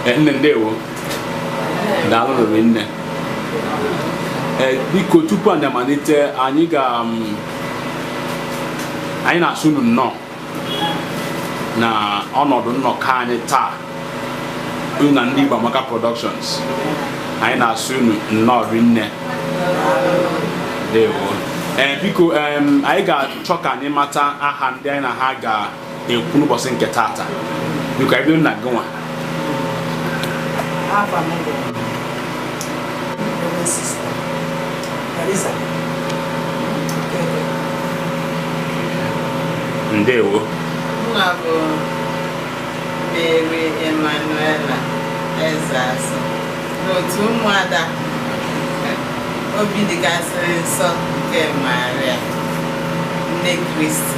Eh, nne ndewo daalụ rinne Eh, biko tupu anyị amalite anyị ga um, anyị na-asị unu nnọọ na ọnọdụ nnọkọ anyị taa unu na ndị Igbo Amaka Productions anyị na-asị unu nnọọ rinne ndewo Eh, biko em, anyị ga-achọ ka anyị mata aha ndị anyị na ha ga ekwu n'ụbọchị nke tata biko bido na gịnwa ndewo aha m bụ Mary Emanuela Ezeasu n'otu ụmụada obi dịkasịrị nsọ nke Maria nne Kristi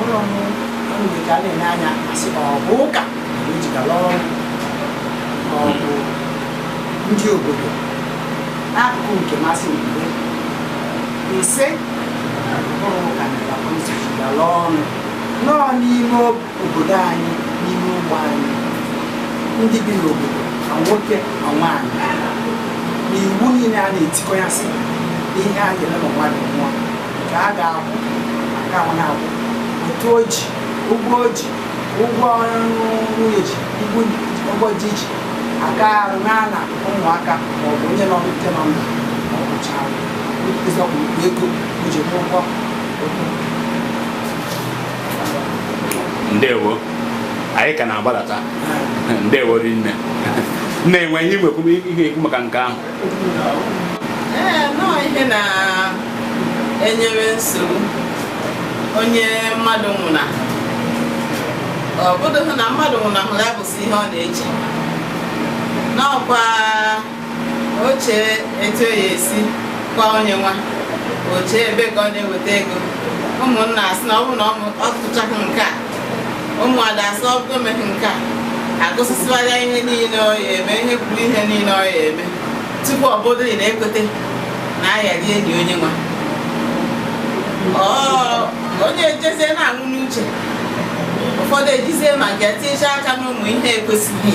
ụlọ m ọnụ dị ka a na-ele anya asị ọ bụ ụka na o ji gala ọnụ ma ọ bụ ndị obodo n'akụkụ nke masị mgbe ise ụlọ ụka na o ji gala ọnụ n'ime obodo anyị n'ime ogbe anyị ndị bi n'obodo ma nwoke ma nwaanyị na iwu niile a na-etikọ ya sị ihe a ga-eme ma mmadụ nwụọ nke a ga-akwụ aka ahụ na-akwụ otu o ji ụgwọ o ji ụgwọ nwunye ji ibu ụgwọ ji ji aka arụ na na ụmụaka maọbụ onye nọ nke nọ ndụ maọbụ chara ịzọpụ ego o ji n'ụgwọ ndewo anyị ka na-agbadata ndewo rinne na-enwe ihe nwekwu ihe ikwu maka nke ahụ ee nọọ ihe na-enyere nsogbu onye mmadụ nwụna ọ bụdụghị na mmadụ nwụnahụrụ ya bụsị ihe ọ na-eche n'ọkwa o chee etu ya esi kwa onye nwa o chee ebe ka ọ na-eweta ego ụmụnna asị na ọ bụrụ na ọ tụchaghị nke a ụmụada asị ọ bụrụ emeghị nke a agụsịsịwara ya ihe niile ọ ya eme e kwuru ihe niile ọ ya eme tupu ọ bụrụ na ekwete na a ya-adị eli onye nwa onye ejezie na-anwụ n'uche ụfọdụ ejizie maka ya tinyecha aka n'ụmụ ihe ekwesịghị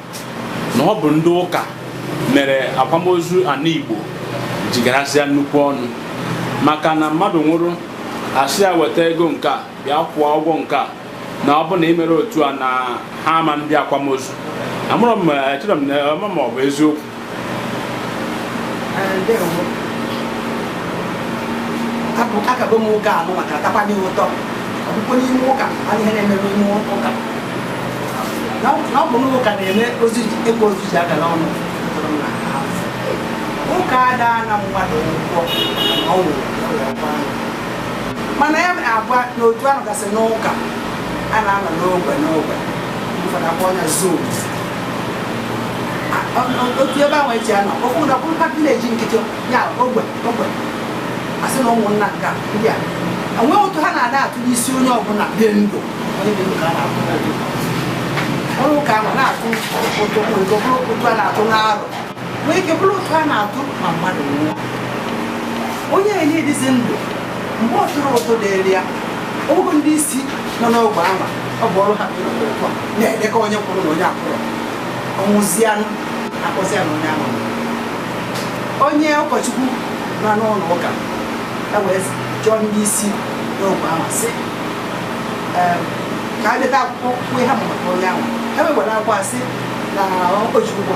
na ọ bụ ndị ụka mere akwamozu ana Igbo ji garasịa nnukwu ọnụ maka na mmadụ nwụrụ asị ya weta ego nke a bịa kwụọ ụgwọ nke a na ọ bụ na imere otu a na ha ama ndị akwamozu amarọ m echere m na ọ bụ eziokwu akago m ụka anụ maka atakwa n'ihe ụtọ ọbụkwa n'ime ụka a ihe na-emebe ime ụka na ọ bụ n'ụka na-eme ozi ekwe ozi ji aga n'ụnọ ụka ada ana mmadụ ụgwọ ọnwụ mana ya abụọ na otu ahụ gasị n'ụka a na-anọ n'ogbe n'ogbe ụfọdụ na-akpọ anya zone otu ebe ahụ eji anọ ofu n'okpuru ka village nkịtị ya ogbe ogbe asị na ụmụnna nke ndị a enweghị ụtụ ha na-ada atụ n'isi onye ọbụla dị ndụ onye dị ndụ ka a na-atụ ọrụ ụka ahụ na-atụ ụtụ ụtụ a na-atụ n'arọ nwee ike bụrụ ụtụ a na-atụ ma mmadụ nwụọ onye enye dịzi ndụ mgbe ọ tụrụ ụtụ dịrị ya ogo ndị isi nọ n'ogbe anwa ọ bụ ọrụ ha bụ ịnọdụ ụtọ na-edekọ onye kwụrụ na onye akwụrọ ọ nwụzianụ akpọzi ya na onye ahụ onye ụkọchukwu nọ n'ụlọ ụka ya wee jụọ ndị isi n'ogbe anwa sị "Ee, ka a deta akwụkwọ kwue ihe ha ma maka onye ahụ ha wee were akwụkwọ asị na ụkọchukwu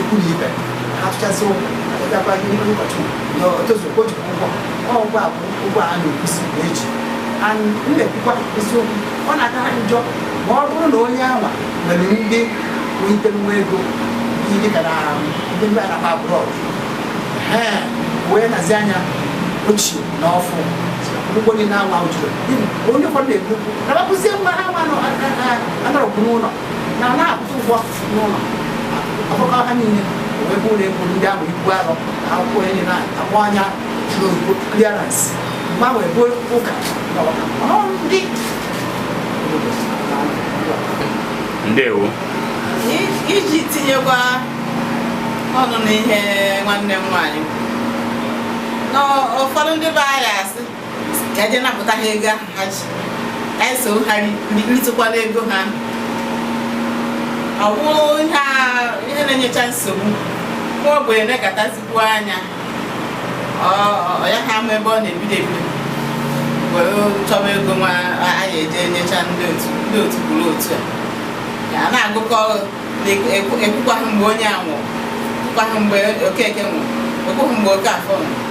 ikwu na ibe ha tụchasị ụgwọ ịgakwa gị n'ime ụbọchị na otozu o jikwa ụgwọ ọ ụgwọ a bụ ụgwọ a na-ekwusi na eji and m na-ekwukwa eziokwu ọ na-aka ha njọ ma ọ bụrụ na onye anwa nwere ndị nwete nwa ego ihe dịka na ndị bi ebe a na-akpọ abroad ee wee nazi anya ochie na ọfụụ ụgwọ niile anwa jụrụ onye ụfọdụ na-ekwu na bakụzie nwa ha nwa anọrọkwu n'ụlọ na ọ na-akwụta ụgwọ n'ụlọ akwụkọọ ha niile wee bụ ụlọ egwu ndị ahụ ibu arọ na akwụkwọ anyị na-akpọ anya n'oyibo clearance mgbe ahụ ebe ụka na ọka ọ ndị ndewo I- iji tinyekwa ọnụ n'ihe nwanne m nwaanyị na ụfọdụ ndị be anyị asị ka eje napụta ha ego ahụ ha ji ka anyị so ha ritụkwanụ ego ha ọ bụrụ ihe na-enyecha nsogbu nwa ogbenye na-ekatazikwu anya ya ha ama ebe ọ na-ebido ebido were chọba ego nwa anyị eje nyecha ndị otu ndị otu kwuru otu a na-agụkọ ị kwụkwaghị mgbe onye a nwụrụ ị kwụkwaghị mgbe Okeke nwụrụ ị kwụghị mgbe Okafọ nwụrụ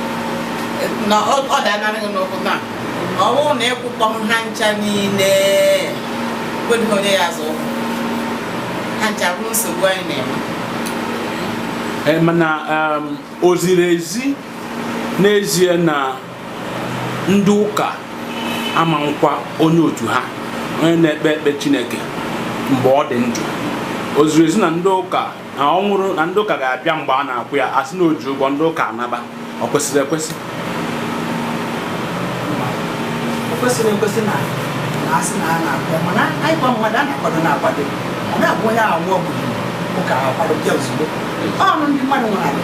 na ọ danarịghị n'ụkwụ na ọ bụrụ na ị kwụkpọghị ha ncha niile o nwedịghị onye ya-azọ ụkwụ ha ncha bụrụ nsogbu anyị na-enwe Eh, mana um, o ziri ezi n'ezie na ndị ụka ama nkwa onye otu ha onye na-ekpe ekpe chineke mgbe ọ dị ndụ o ziri ezi na ndị ụka na ọ nwụrụ na ndị ụka ga-abịa mgbe a na-akwa ya asị na o ji ụgwọ ndị ụka anaba o kwesịrị ekwesị o kwesịrị ekwesị na na asị na a na-akpọ mana anyị kwa mmadụ a na-akwado na-akwado ọ na-abụ onye ahụ nwụọ ụka akwado bịa ozugbo ọnụ ndị mmadụ nwere ala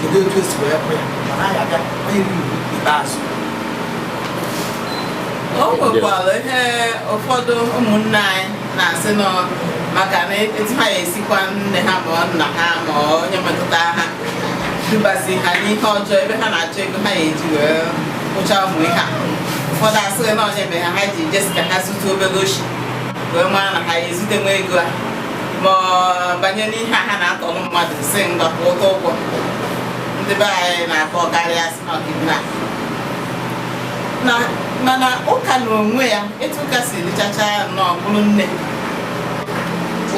kedu etu esi wee kwe ma ha ga-abịa onye riri ikpeazụ o nwekwara ihe ụfọdụ ụmụnne anyị na-asị nọ maka na etu ha ya esi kwa nne ha ma ọ nna ha ma ọ onye metụta ha dubazi ha n'ihe ọjọọ ebe ha na-achọ ego ha ya eji wee kwụcha ụmụ ihe a ụfọdụ asịrị na ọ ya mere ha ha ji je sị ka ha zute obere oshi wee mara na ha ya ezute nwa ego a ma banye n'ihe ha na-atọrọ mmadụ sị ngwa kwụta ụgwọ ndị be anyị na-akpọ karịa sị na kidnap na mana ụka na onwe ya etu ụka si dịchacha nnọọ bụrụ nne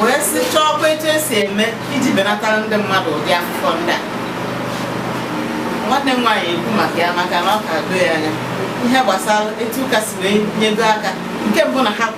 wee sị chọọkwa etu esi eme iji benatara ndị mmadụ ụdị afụfụ ndị a nwanne m nwaanyị ekwu maka ya maka na ọ ka doo ya anya ihe gbasara etu ụka si wee nyego aka nke mbụ na ha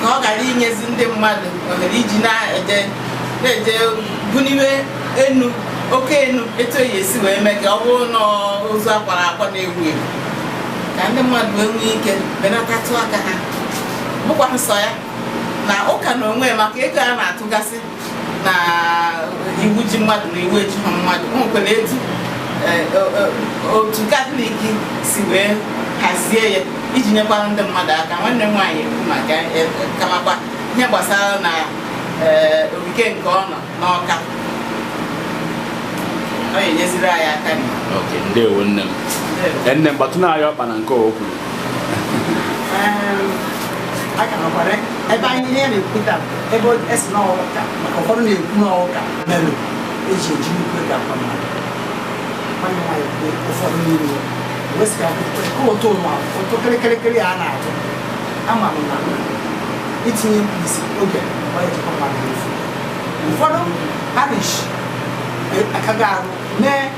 ka ọ ghara inyezi ndị mmadụ ohere iji na-eje na-eje buniwe enu oke enu etu a ya esi wee mee ka ọ bụrụ na ozu akwara akwa na-ewu ewu ka ndị mmadụ wee nwee ike benatatụ aka ha bụkwa nsọ ya na ụka na onwe maka ego a na-atụgasị na iwu ji mmadụ na iwu ejighị mmadụ o nwekwara etu eh, o- o- otu katọlik si wee hazie ya iji nyekwara ndị mmadụ aka nwanne m nwaanyị ekwu maka ya, eh, ka makwa ihe gbasara na eh, ogige nke ọ nọ n'ọka ọ ga-enyeziri anyị aka na ok ndewo nne m ya. nne m gbatụnụ ya ọkpa na nke o kwuru Ehm, a ka nọkwara ebe anyị ihe na-ekwuta ebe o- a sị na ọ ụka maka ụfọdụ na-ekwu na ọ ụka mere eji eji nnukwu ego akwa mmadụ nwanne nwaanyị bụ ụfọdụ n'ime ya wee sị ka a kwụkwa nke ụtụ ụwa ụtụ kịrịkịrịkịrị a na-atụ ama m na itinye mkpirisi oge ọ ya eji kwa mmadụ n'efu ụfọdụ parish akaghị arụ mee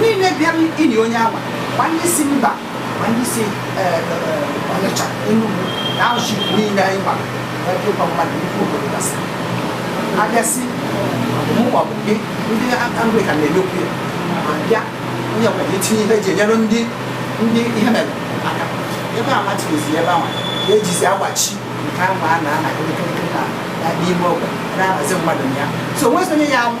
niile bịara ili onye ama ma ndị si mba ma ndị si eh, eh, ọnịcha enugwu na arụchi niile anyị gbara ebe ịkwa mmadụ nnukwu obodo gasị abịasị mụ ma ọ bụ gị ndị anglican na-emekwu ya ma bịa onye ọbụla etinye ihe eji enyere ndị ndị ihe mere aka ebe a matirizi ebe ahụ ka ejizi agbachi nke ahụ a na-ana kịrịkịrị na n'ime ogbe na-ahazi mmadụ na ya so o nwezi onye ya anwụ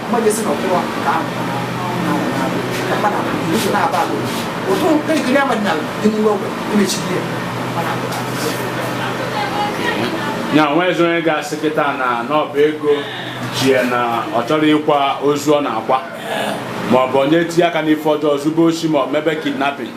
ya nweezi onye ga-asị kịta na n'ọ bụ ego ji ya na ọ chọrọ ịkwa ozu ọ na-akwa maọbụ onye tinye aka n'ife ọjọọ zube osi ma ọ mebe kidnapping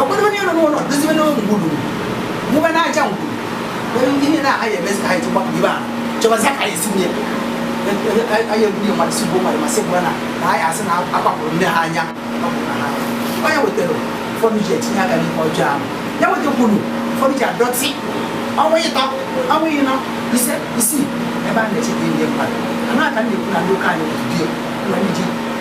ọgbọdọ onye nọ n'ụlọ dozibe n'ụlọ ngwuru mụba n'aja ngwuru onye ndị ihe na-agaghị emezi ka anyị tụkwa ibe ahụ chọbazi ka anyị si nye anyị egbunye mmadụ si gbuo mmadụ ma sị gbura na na anyị asị na akwapụrụ nne ha anya onye wetara ụfọdụ ji etinye aka n'ihe ọjọọ ahụ ya wetakwuru ụfọdụ ji adọtị ọnwa ịtọ ọnwa ịnọ ise isii ebe a na-echeta ndị mmadụ a na-aka ndị ekwu na ndị ụka anyị dị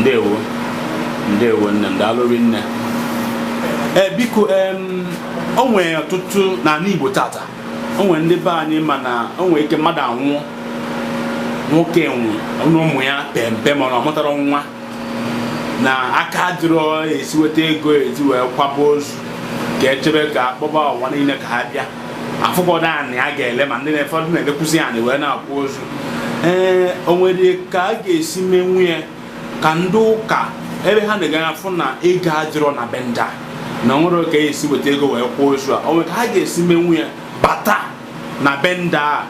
ndewo ndewo nne m daalụrị nne ee eh, biko o nwere ọtụtụ n'anị Igbo tata o nwere ndị be anyị mana o nwere ike mmadụ anwụọ nwoke nwụ ụmụ ya pempe mana ọ mụtara nwa na aka dịrọ esi weta ego eji wee kwaba ozu ka echebe ka akpọba ụwa niile ka ha bịa afụgodu anị a ga-ele ma ndị ụfọdụ na-elekwuzi anị wee na-akwa ozu ee o nwere ka a ga-esi menwu ya ka ndị ụka ebe ha na-aga afụ na ego adịrọ na be ndị a na enwerọ ka esi weta ego wee kwaa ozu a o nwere ka ha ga-esi menwu ya bata na be ndị a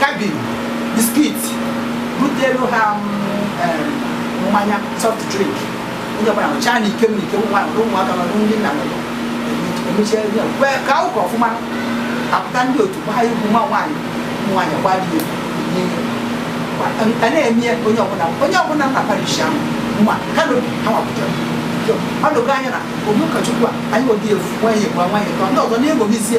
cabin biscuit butelu ha mmanya soft drink onye ọbụla ṅụchaa na ike mmiri ike ụmụaka nọ ndị nna nọ emechaa ka ụka ọfụma apụta ndị otu gbaa egwu nwa nwaanyị nwaanyị gbaa dị a na-eme onye ọbụla onye ọbụla na parish ahụ ma kanopi ha wapụtara ọ dogo anya na onye ụkọchukwu a anyị odi efu nwaanyị gwa nwaanyị ka ndị ọzọ na-eṅomizie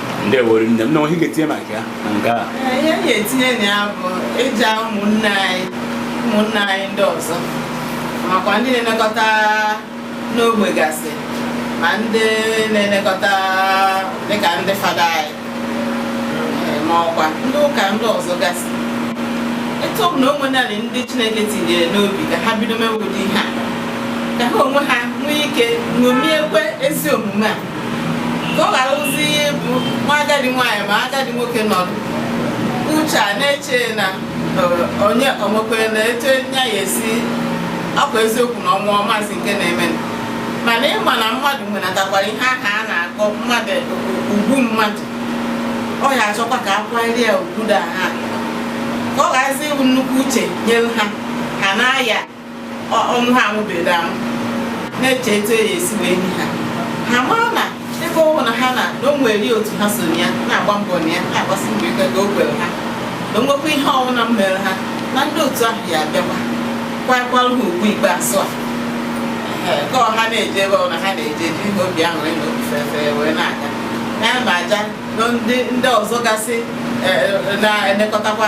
ndewori nne m na ihe m ga-etinye maka ya na nke a ihe m ga-etinye na ya bụ ịja ụmụnne anyị ụmụnne anyị ndị ọzọ makwa ndị na-elekọta n'ogbe gasị ma ndị na-elekọta dịka ndị fada anyị eh, ma ọkwa ndị ụka ndị ọzọ gasị etu ọ bụ na o nwenarị ndị chineke tinyere n'obi ka ha bido mewe ụdị ihe a ka ha onwe ha nwee ike ṅomiekwe ezi omume a ka ọ gharazie ịbụ nwa agadi nwaanyị ma agadi nwoke nọdụ uche a na-eche na eh, onye ọmụkwere na etu ya ya esi akwa eziokwu na ọ nwụọ ọ mazi nke na-eme mana ị ma na mmadụ nwenatakwara ihe aha a na-akọ mmadụ ugwu mmadụ ọ ya achọkwa ka a kwanyere ya ugwu da ha ka ọ gharazi ịbụ nnukwu uche nyere ha ha na-aya ọnụ ha anwụbeghị anwụ na-eche etu e ya-esi wee nie ha ha mara na ebe ọ bụ na ha na na o nwere otu ha so ya na-agba mbọ na ya na-agbasi mbọ ike ka o kwere ha na o nwekwa ihe ọbụla mere ha na ndị otu ahụ ya-abịakwa kwakwara ha ugwu ikpeazụ a ka ọha na-eje ebe ọbụla ha na-eje jiri obi aṅụrị na obi fefere wee na-aga na ya ma aja ndị ọzọ gasị na-elekọtakwa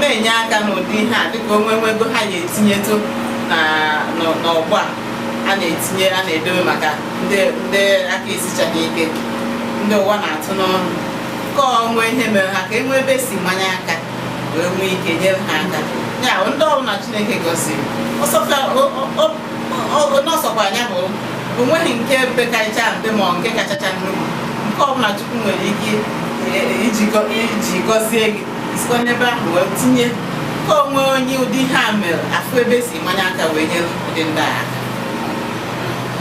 na-enye aka n'ụdị ihe a dịka o nwee nwee ego ha ga-etinyetụ n'ọgbọ a a na-etinye a na-edobe maka ndị aka esichaghị ike ndị ụwa na-atụ n'ọnụ ka o nwee ihe mere ha ka e nwee ebe e si manye aka wee nwee ike nyere ha aka ya ndị ọbụla Chineke gọziri n'ọsọkwa anya bụ o nweghị nke pekarịcha mpe ma nke kachacha nnukwu nke ọbụla Chukwu nwere ike iji gọzie gị sikwa n'ebe ahụ wee tinye ka o nwee onye ụdị ihe a mere a fụ ebe e si manye aka wee nyere ụdị ndị a aka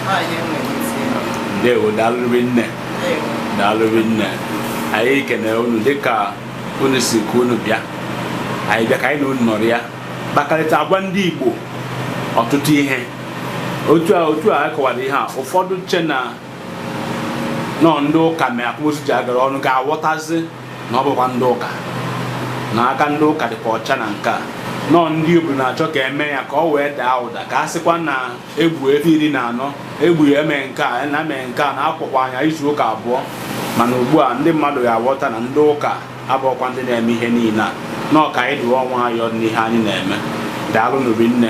Ọ ihe m nwere isi ya. ndewo daalụ rinne Ndewo. daalụ rinne anyị kenere unu dịka unu si ka unu bịa anyị bịa ka anyị na unu nọrịa kpakarịta agwa ndị Igbo ọtụtụ ihe otu a otu a kọwara ihe a ụfọdụ che na ọ ndị ụka mere akwamozu ji agala ọnụ ga-aghọtazi na ọ bụkwa ndị ụka na aka ndị ụka dịkwa ọcha na nke a na ọ ndị obodo na-achọ ka e mee ya ka o wee daa ụda ka a sịkwa na egbu efi iri na anọ egbu ya eme nke a na eme nke a na a kwakwara ya izu ụka abụọ mana ugbu a ndị mmadụ ga-aghọta na ndị ụka abụrọkwa ndị na-eme ihe niile a na ọ ka anyị dụwa nwayọọ n'ihe anyị na-eme daalụnụ rinne